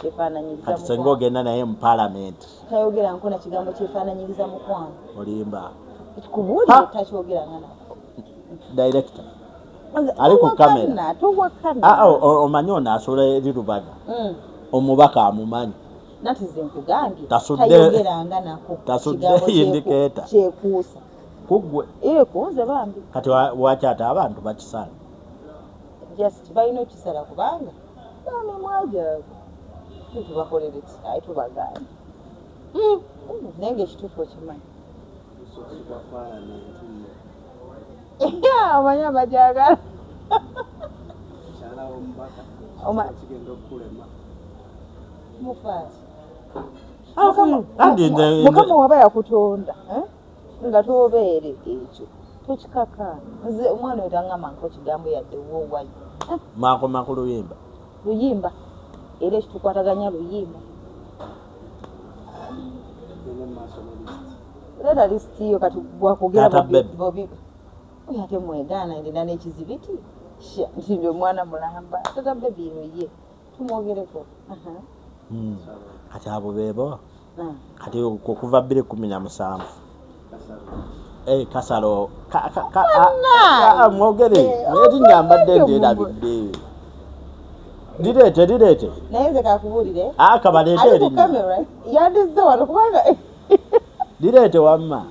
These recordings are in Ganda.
kyefaananyiriza kati senga ogenda naye mu palamenti tayogera nkona kigambo kyefaananyiriza mukwano olimba kubuulire takyogera ngana direkita ali ku kamera ah, oh, oh, omanyi ono asobola eri lubaga mm. omubaka amumanyi tasuddeindiketa kuggwe kati wakyata abantu bakisala just balina okisala kubanga bamimwa gyaabwe tubakolere ki aye tubagaana hmm. naye nga ekituufu okimanyi omanyi amajagala mukama waba yakutonda eh? nga tobeere ekyo tokikaka nze omwana oyo tangamba nko kigambo yadde wowayi eh. makoma ku luyimba luyimba era ekitukwataganya luyimba leeta lisiti yo kati bwakugera bobi oyo ate mwegaana ndina n'ekizibiti nti ndi omwana mulamba tata bebi yoye tumwogereko hmm. kati abo bebo ah. kati okuva bbiri kumi na musanvu eh, kasalo mwogere naye tinyambadde nderabidde lireete lireete naye nze kakubuulire akabaleete ah, erinnya yandizze wano kubanga lireete wamma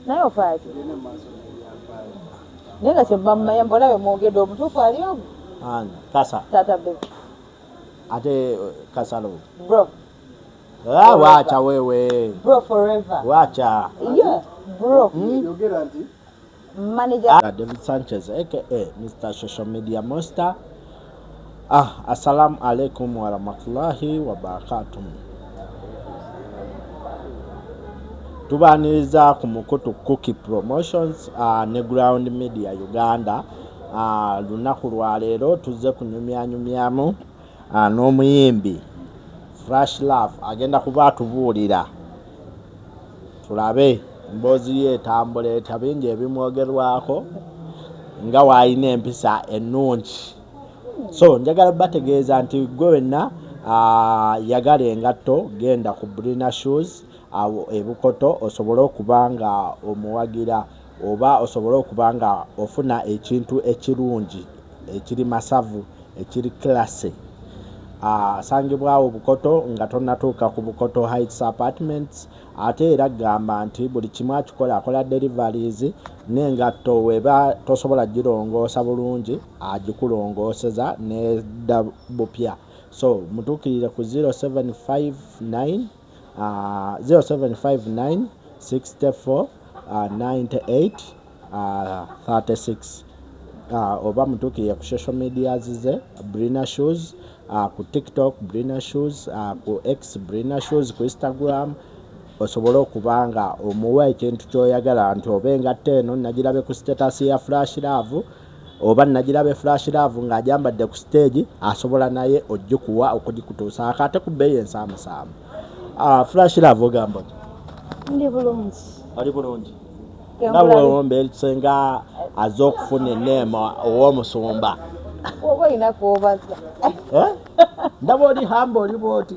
naye ofaaki naye nga kyebamumanya mbona bemwogedde omutuufu ali omu kasa tata be ate eh, kasalo bro ah, wacha wewe bro forever wacha yeah bro hmm? yogera nti manager ah, David Sanchez aka Mr Social Media Monster Ah, assalamu alaikum warahmatullahi wabarakatuh. Tubaniriza ku mukutu Cookie Promotions uh, ne Ground Media Uganda. Uh, lunaku lwa leero tuzze kunyumyanyumyamu uh, n'omuyimbi Fresh Love agenda kuba atubuulira tulabe emboozi ye etambula etya bingi ebimwogerwako nga waalina empisa ennungi so njagala bategeeza nti gwe wenna ah, yagala engatto genda ku brina shoes awo ebukoto osobole okuba nga omuwagira oba osobole okuba nga ofuna ekintu ekirungi ekiri masavu ekiri classy asangibwawo ah, bukoto nga tonatuuka ku bukoto heights apartments ate era gamba nti buli kimu akikola akola deliveries n'engatto weba tosobola girongoosa bulungi agikulongooseza nedda bupya so mutuukirire ku 0759 0759 64 98 36 uh, oba mutuukirire ku social media zize brina shoes uh, ku tiktok brina shoes uh, ku x brina shoes ku instagram osobole okuba nga omuwa ekintu kyoyagala nti oba engatta eno nagirabe ku status ya flash love oba nagira be flash love nga ajambadde ku stage asobola naye ojikuwa okujikutuusa akate ku bbeeyi ensaamusaamu ah, flash love ogamba ndi bulungi ali bulungi nawe owombeerse nga aze okufuna eneema owomusumba oba olina kwobaza eh? ndaba oli hamba oli bwoti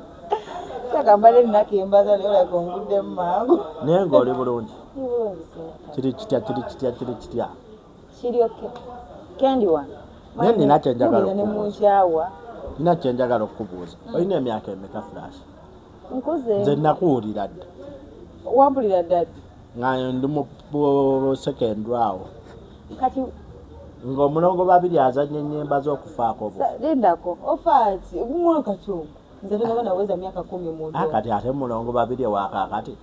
takambala ennaku embaza naye olaga onguddemu mangu naye nga oli bulungi kiri kitya kiri kitya kiri kitya kiryoke kendi wano naye nina kyenjagala nemunkyawa nina kyenjagala okukubuuza mm. olina emyaka emeka flash nkuze nze nakuwulira dda wabulira dad nga ndi mu secondary awo kati ng'omulongo babiri azanya enyemba z'okufaako lindako ofaaki omwaka kyomu nze tonaba naweza myaka kumi mu ah, kati ate mulongo babiri ewakakati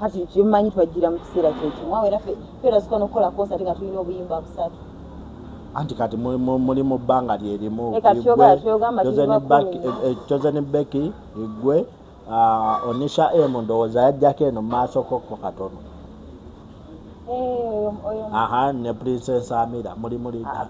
kati kyemumanyi twajjira mu kiseera kyekimu awo era ferazika nokukola konsati nga tulina obuyimba busatu anti kati muli mu bbanga lyerimu chosen eh, becky igwe ah, onisha emu ndowooza yajjako eno mumaaso kokko katono eh, aha ne princess amira muli muli ah,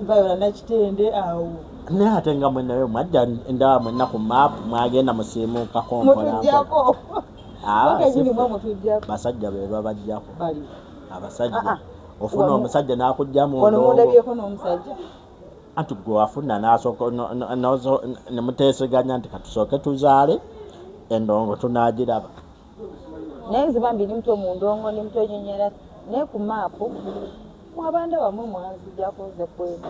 bayola nakitende awo naye ate nga mwenayo mwajja endaba mwenna ku maapu mwagenda musiimuuka kompolampo ah, basajja be babajjako abasajja ah, ah. ofuna omusajja nakujja mundabyeko nomusajja anti gwe wafuna nasooka nemuteeseganya nti katusooke tuzaale endongo tunagiraba naye nze bambi ndi muto mu ndongo ndi muto nyonyera naye ku maapu mwabanda bamwe mwanzijako nze kweka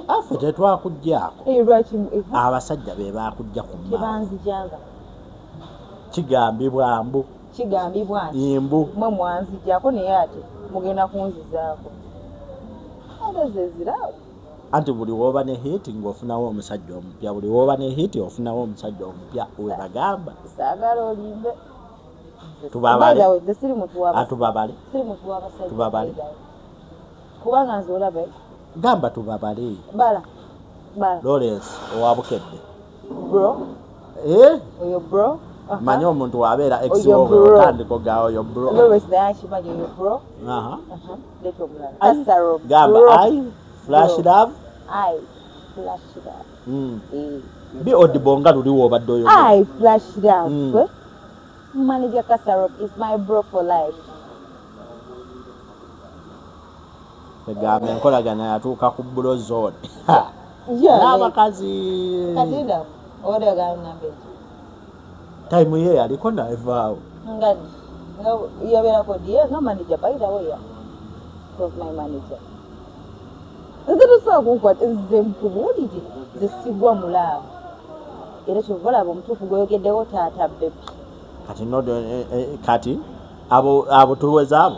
affe tetwakuggyako eh, eh, abasajja be bakujja ku maapu kigambibwa mbu kigambibwa nti mbu mwe mwanzijako naye ate mugenda kunzizaako ate zeziraawo anti buli woba ne hit nga ofunawo omusajja omupya buli woba ne hit ofunawo omusajja omupya webagamba sagala olimbe tubabale atubabale ah, tubabale kubanga nze olabe gamba tubabale bala bala lawrence owabukedde bro eh oyo bro manya omuntu wabeera extandiko ga oyo brogamba i flash love hmm. eh. bi odibo nga luli wobadde oyo hmm. eh? manager kasarop is my bro for life egamba enkolagana yatuuka ku bulo zone n'abakazi tayimu ye yaliko navaawo yabeerako diye nga manager by the way yeah. was my manager nze tusobola kunkwata nze mpubuulire nze sigwa mulaavu era kyova olaba omutuufu gweyogeddewo taata bebi kati eh, eh, kati abo abo tuweza abo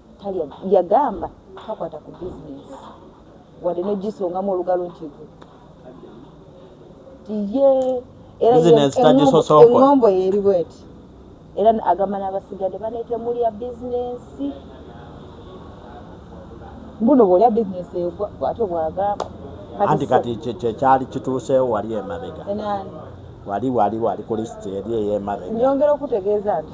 talya yagamba takwata ku bizinesi wadde nogisongamu olugalo nti tiye era eŋombo yeri bweti era agamba n'abasigadde banetemulya bizinesi mbuno bwolya bizinesi bwatyo bwagamba anti kati kyekyali kituuseewo wali emabega wali wali wali ku lisiti eri eyemabega nyongera okutegeeza nti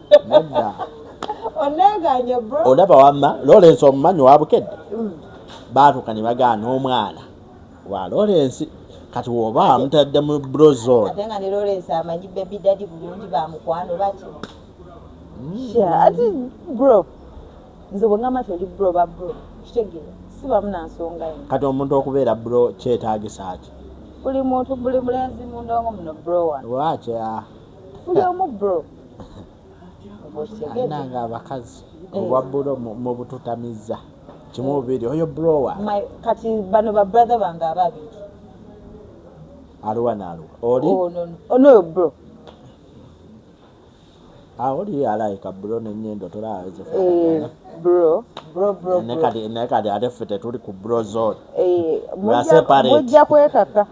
olaba wamma lorensi omumanyi wabukedde mm. baatuka ne bagaana omwana wa lorensi kati woba amutadde mu brozone kati omuntu okubeera bro kyetagisa ki buli muntu buli mulenzi mundongo muno bro wano waakya buli omu bro alina nga abakazi eh. obwa bulo mubututamiza kimu bubiri oyo browa kati bano ba brother bange ababiri aluwa naluwa oli oh, onoyo bro aoli ah, alaika bro nenyendo tolaaze eh, bro bro bro ne kadi ne kadi ate fete tuli ku bro zone eh mujja kwekaka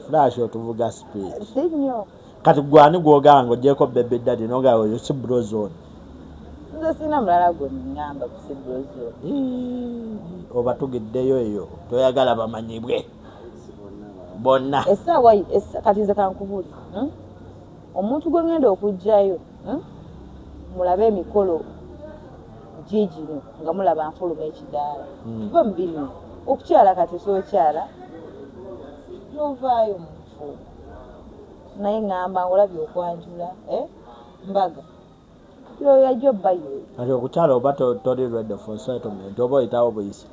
flash otuvuga speed kati gwani gwogamba nga ogyeko bebe dadi noga oyo si brozone nze sina mulala gwenyamba kusi brozone oba tugiddeyo eyo toyagala bamanyibwe bonna kati nze kankubuuli hmm? omuntu gwengenda okugjayo Hmm? mulabe emikolo gigino nga mulaba nfuluma ekidaala hmm. va mubino okukyala kati sokyala novaayo mufu naye ngamba ngolabye okwanjula eh? mbaga yoyajo bayo kati okukyala oba toli ready for settlement oba oyitawo buyisi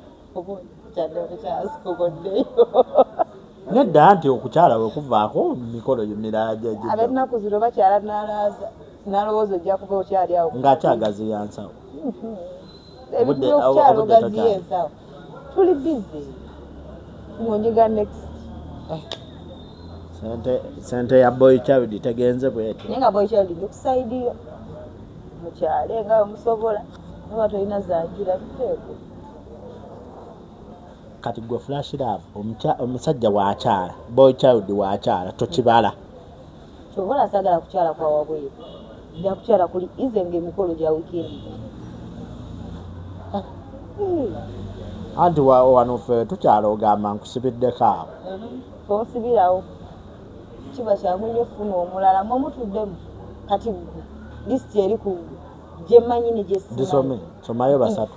nedda nti okukyala we kuvaako mikolo miraajaab'ennaku zino bakyala nalaaza nalowooza ojja kuba okyali awo ng'akyagaziya nsawo ebintu byokukyala ogaziya ensawo tuli bizi ngonyiga next eh. sente sente ya boy child tegenze bwetyo naye nga boy child ndikusaidiyo mukyale nga omusobola oba tolina zanjira biteeko kati gwe flash love omusajja wakyala boy child wakyala tokibala kyova nasagala kukyala kwa wabweru nja kukyala kuli ize nga emikolo gya wikendi ah. anti wano fe tukyala ogamba nkusibiddeko awo mm-hmm. osibirawo kiba kyangu nyo funa omulala mwemutuddemu kati lisiti eri ku gyemanyi negyesome somayo basatu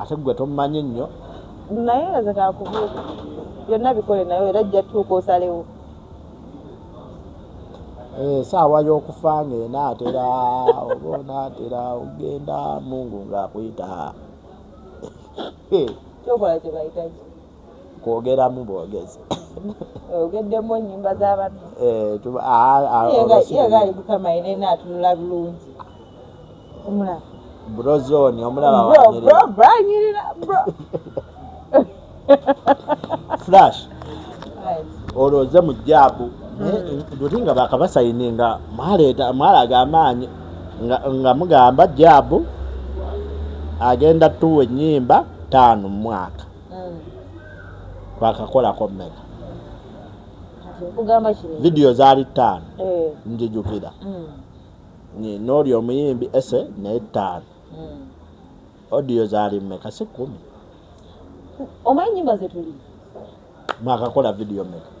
ate gwe tommanyi nnyo naye nga ze kakubuuza byonna bikole naye era jja tuuka osalewo esaawa eh, y'okufa ng'enaatera oba onaatera ogenda mungu ng'akuyita eh. kyokola kyebayitaki kwogeramu bwogezi ogeddemu enyumba zabantu eh, yegali mukama yenena atunula bulungi omulaba brozoni omulabanyirira flash olwo oze mu jaabu doti nga bakabasayini nga mwaleeta mwalaga amaanyi nga mugamba jaabu agenda tuwa ennyimba taano mu mwaka mm. twakakolako mmeka vidiyo zaali ttaano eh. njijukira mm. nooli omuyimbi ese naye ttaano mm. odiyo zaali mmeka si kkumi omanyi nyimba zetuli mwakakola vidiyo mmeka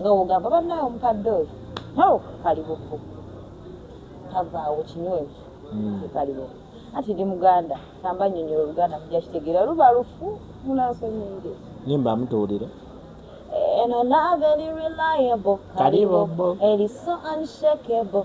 nga wogamba bannaawe omukadde oyo nawe kali bufu tavaawo kinywevu hmm. kali bufu anti ndi muganda samba nyonyola oluganda muja kitegeera luba lufu munasonyiire nimba amutuwulire eno nave eri reliable kali bufu eri so unshakable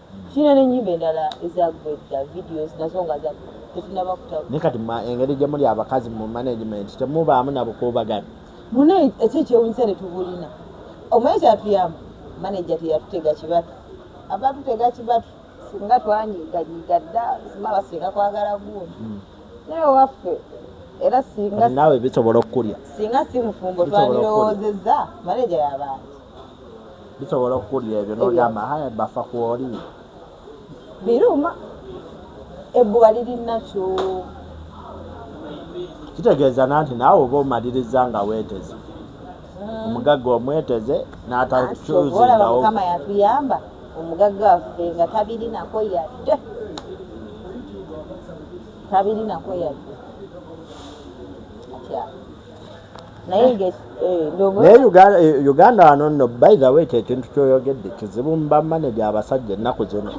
Sina ne nyimbe ndala eza gwedda videos nazo nga za tufuna bakuta. Ne kati ma engeri gye muli abakazi mu management temubaamu na bukuubagano. Mune ekyo ekyewunyisa ne tubulina. Omanyi kyatuyamba manager teyatutega kibatu. Abatutega kibatu singa twanyiga nyiga dda singa basinga kwagala gundi. Hmm. Naye waffe era singa nawe bisobola okukulya. Singa si mufumbo twandirowoozezza manager y'abantu. bisobola okukulira ebyo nogamba haya bafa kwoli biruma ebbuba liri nakyo kitegeeza nanti naawe oba omaliriza nga weeteze hmm. omugagga omweteze n'atakyuzindaomukama yatuyamba omugagga waffe nga tabirinako yadde tabirinako yadde naye eh, uganda wano nno by the way kyekintu kyoyogedde kizibu mu bamaneja abasajja ennaku zino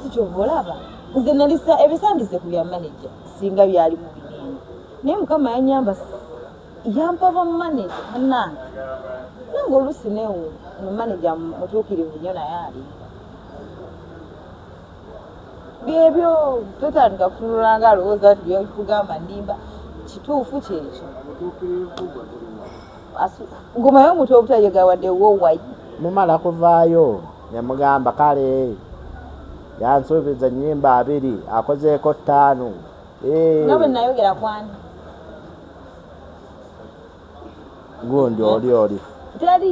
nze nalisa ebisandize ku byamaneja singa byali mu binene naye mukama yanyamba yampa bamaneja anange nange olusi newo mumaneja mutuukirivu nyo naye alimba byebyo totandika kutunula nga alowooza nti byekugamba ndimba kituufu kyekyo ngumayo omuntu obutayegawadde wowayi mumala kuvaayo nemugamba kale yansuubiza enyimba abiri akozeeko ttaano nga bwe nayogera kwani gundi oli oli teri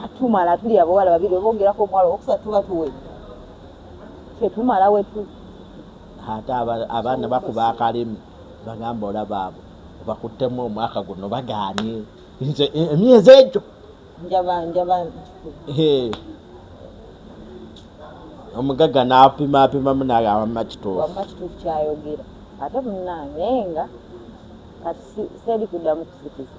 katumala tuli abawala babiri oba ongerako omuwala owokusatu tuba tuwe fe tumala wetu ate abaana bakuba akalimi bagamba olaba abo bakuttemu omwaka guno bagaanye nze e, emyezi egyo njaba njaba omugagga n'apima apimamu naye awamma kituufu kituufu kyayogera ate munange nga kati seeri kuddamu kusikiza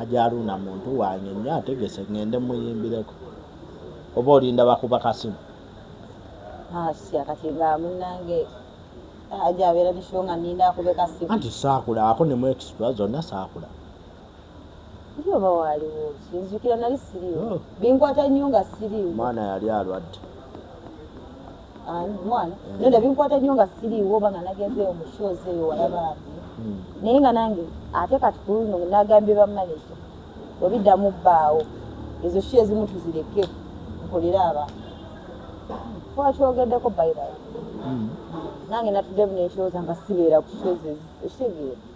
ajaruuna muntu wange nyo ategese ngende muyimbireko oba olinda bakuba kasimu anti sakulabako nemu extra zonna sakula oba waliwo nzukira nali siriwo oh. binkwata nnyo nga siriwo mwana yali alwadde mwana naye nda binkwata nnyo nga siriiwo oba nga nagenzeeyo mu shows eyo walabaabi hmm. naye nga nange ate kati ku luno nagambye bamaneja webiddamu bbaawo ezo sho ezimu tuzireke nkolere abantu twakyogeddeko baibal hmm. nange natudde bunekyoza nga sibeera ku shows ekitegeera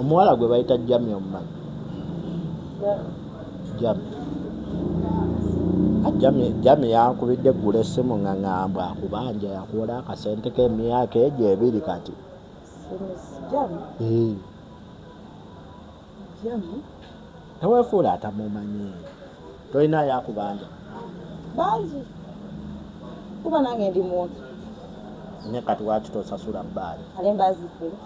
omuwala gwe bayita jami omumanyi jami ajami jami yankubidde eggula essimu nga ngamba akubanja yakuwola akasente k'emyaka egyo ebiri kati Jami. Hey. tewefuula atamumanyi tolina yakubanja bangi kuba nange ndi muntu ne kati waki tosasula bbaali ale mbazifula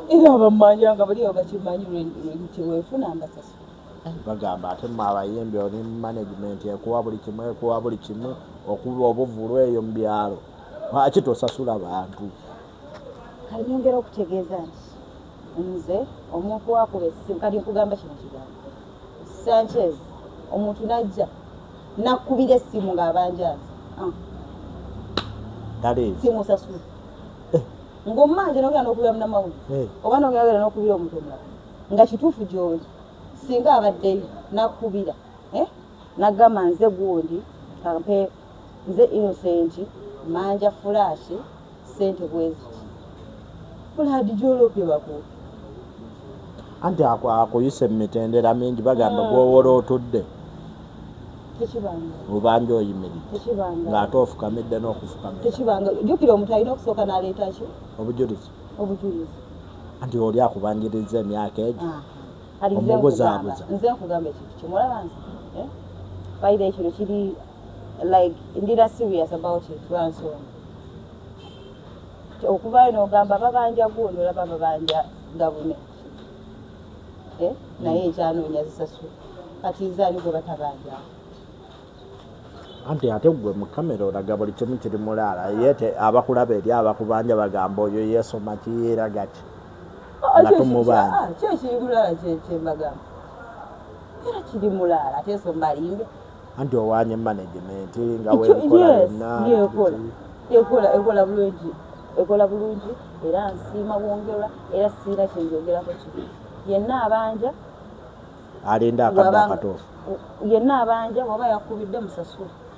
era abamanja nga bali abakimanyi lwewefuna mbasasula eh, bagamba ate mu abayimbi oli mu management ekuwa buli kimu ekuwa buli kimu okuba obuvulu eyo mu byalo lwaki tosasula bantu kanyongera okutegeeza nti nze omuntu wakuba essimu kati nkugamba kino kigambo sanchez omuntu najja nakubira essimu ng'abanjaazi ah. simusasula eh. ng'omumanja nogera nokubira munamawuli eh. oba nogera nokubira omuntu omulala nga kituufu gyoli singa abaddeyo nakubira eh? nagamba nze gundi kampe Nze innocent manja flash sente bweziti blood jolopye bakuwe. Anti ako akuyise mumitendera mingi bagamba gwowola otudde obanja oyimiridde ng'ate ofukamidde n'okufukamiraekibangajukira omuntu alina okusooka n'aleeta ki obujulizi obujulizi anti oli akubanjiriza emyaka egyo ah. omubuzaabuza nze nkugamba ekintu kimulaba nze eh? bayira ekino kiri like ndira serious about it lwansonga okuvaayo nogamba babanja gundi olaba babanja gavumenti eh? naye mm. ekyanoonya zisasula kati zaani gwe batabanjaa anti ate gwe mu kamera olaga buli kimu kiri mulaala ye abakulaba eri abakubanja bagamba oyo yeesoma kiyeeragaki nga tomubanja ah, kyo ekindulala kyembagamba era kiri mulaala ate ensonga alimbe anti owanye management nga wekola yonna ekola ekola bulungi ekola bulungi era nsiima bwongerwa era siina kyenjogerako kibi yenna abanja alinda akadde akatuufu yenna abanja waba yakubidde musasula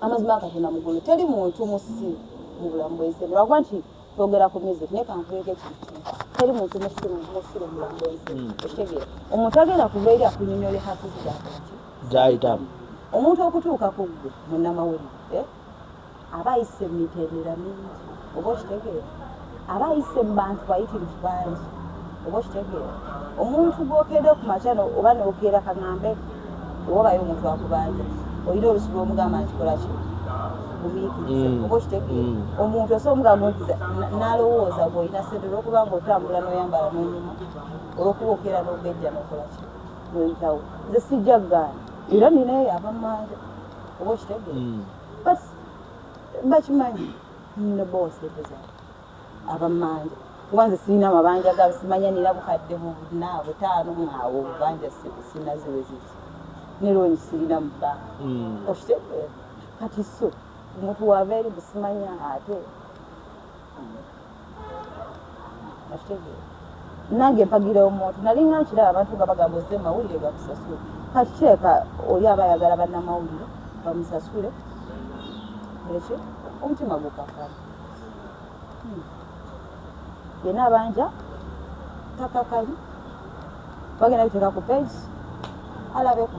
amazima katonda mugulu teri muntu musi mubulamu bwensi lwakuba nti twogera ku music naye kankuweka ekintu teri muntu musi musire mubulamu bwensi hmm. ekitegeera omuntu agenda kuva eri akunyonyole hakuzidakati zayitamu omuntu okutuuka ku ggwe munamawulire eh, aba ayise miterera mingi oba okitegeera aba ayise mu bantu bayitirivu bangi oba okitegeera omuntu gwokeera okumakya oba nokeera kagambe obabayo omuntu akubanja olina olusi lwomugamba nti kolaki gumiikiriza mm. oba okitegeera mm. omuntu osobola omugamba ntiza nalowooza gweolina sente olwokuba nga otambula noyambala nonyuma olwokuba okeera nogejja nokolaki noyitawo nze sijja gaana era ninaye abamanja oba okitegeera mm. bakimanyi Nno bose buza abamanja kuba nze sirina mabanja gabo simanya nina bukadde buna butaano mwawo banja sirina ziweziki neloni sirina mu banka hmm. okitegeera kati so omuntu wava eri busimanya ate nange mpagira omuntu nalinga nkiraba abantu nga bagamba ozze mawulire gakusasule kati kireka oli aba ayagala bannamawulire bamusasule ekyo omutima gukakala hmm. yena abanja takakali bagenda biteeka ku page alabeko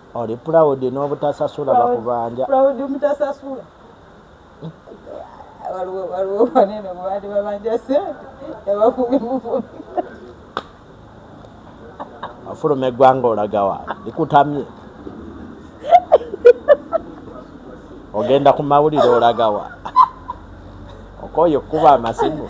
oli proud n'obutasasula bakubanja proud mutasasula waliwo waliwo banene mubandi babanja sente yabafumi mufumi afuluma eggwanga olagawa likutamye ogenda ku mawulire olagawa okoye okukuba amasimu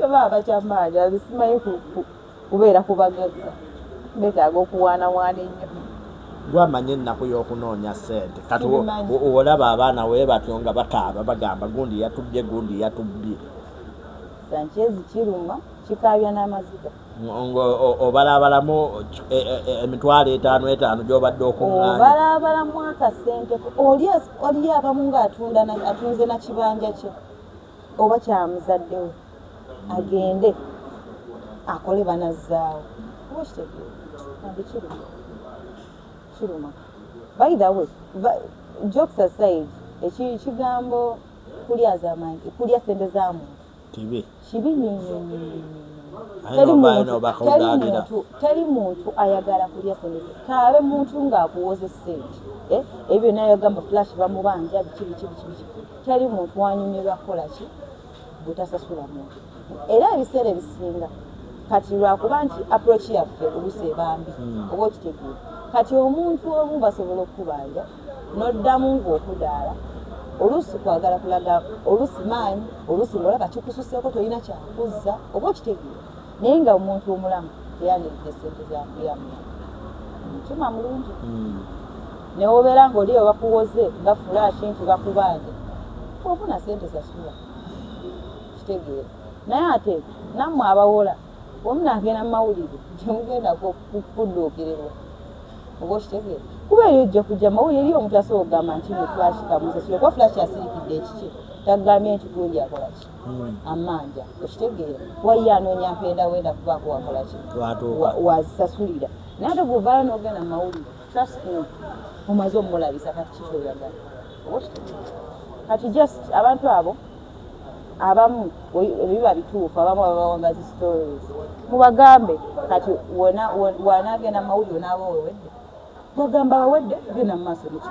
Baba abakyamaanyi abisimaye kubeera ku bagagga betaaga okuwaanawaana ennyo gwamanya ennaku y'okunoonya ssente kati olaba abaana we batyo nga bakaaba bagamba gundi yatubbye gundi yatubbye sankyezi kiruma kikaabya n'amaziga ng'obalaabalamu e, e, e, emitwalo etaano etaano gy'obadde okuŋŋaanya obalaabalamu akasente oli abamu ng'atunda atunze na kibanja kye oba kyamuzaddewo agende akole banazzaawo oba kitegeera nabyo kiruma kiruma by the way jokes aside ekigambo kulya zamanyi kulya sente za muntu kibi kibi nyonyonyonyo teri muntu ayagala kulya sente kaabe muntu ng'akuwoza essente eh, ebyo naye agamba flash bamubanja biki biki biki biki teri muntu wanyumirwa kukola ki butasasula muntu era ebiseera ebisinga kati lwakuba nti approach yaffe olusi ebambi hmm. oba okitegeera kati omuntu omu basobola okukubanja noddamu ngaokudaala olusi kwagala kulaga olusi maanyi olusi ngaolaba kikususeeko tolina kyakuzza oba okitegeera naye nga omuntu omulamu teyaniride sente zakuyamuya mutima mulungi hmm. newobeera nga oli webakuwoze nga fulashi nti bakubanja ofuna sente sasula kitegeera naye ate nammwe abawola omu nagenda mumawulire gyemugenda kudduukirirwa oba okitegeera kuba eyo ojja kujja mawulire eri omuntu asobola okugamba nti mufulashi kamusasula kuba fulashi asirikidde ekikye takugambye nti gundi akolaki amanja okitegeera wayiye anoonya mpenda wenda kubaako wakolaki wazisasulira naye ate gwovayo nogenda mumawulire trust me omaze omulabisa kati kikyoyagala kati just abantu abo abamu ebiba bituufu abamu ababawanga zi stories mubagambe kati wanagenda mumawulire onaaba wewedde bagamba wewedde genda mumaaso nekyo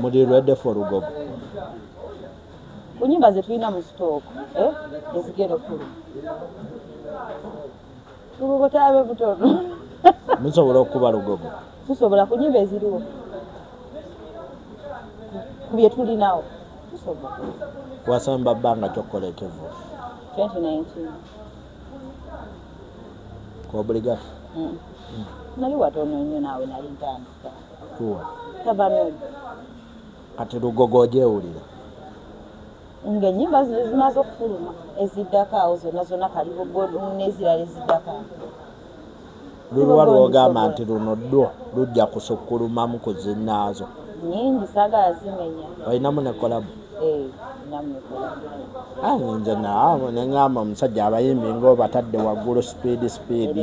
muli ready for lugogo kunyumba zetulina mu stock eh ezigero fulu lugogo tabe butono musobola okuba lugogo tusobola kunyumba eziriwo kubye tulinawo tusobola wasamba banga kyokola ekevu 2019 kwa obligato mm. mm. nali watono nyo nawe nali ntandika kati lugogo ojewulira nga enyimba zino zimaze okufuluma eziddako awo zona zona kalibugolnezirala eziddako lulwa lwogamba nti luno dwo lujja kusukulumamu ku zinaazo nyingi sagala zimenya olinamu nekolabu eh, nze naawe neŋamba omusajja abayimbi ngaobatadde waggulu sipiidi sipiidi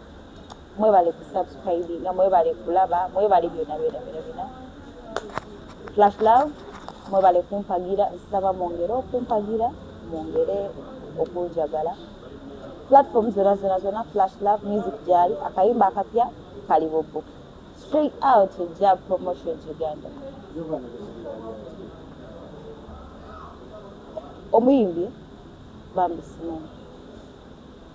mwebale ku subscribe nga mwebale kulaba mwebale byona byona byona byona flash love mwebale kumpagira nsaba mwongere okumpagira mwongere okunjagala platform zona zona zona flash love music gyali akayimba akapya kali bubu straight out job promotion uganda omuyimbi bambi simoni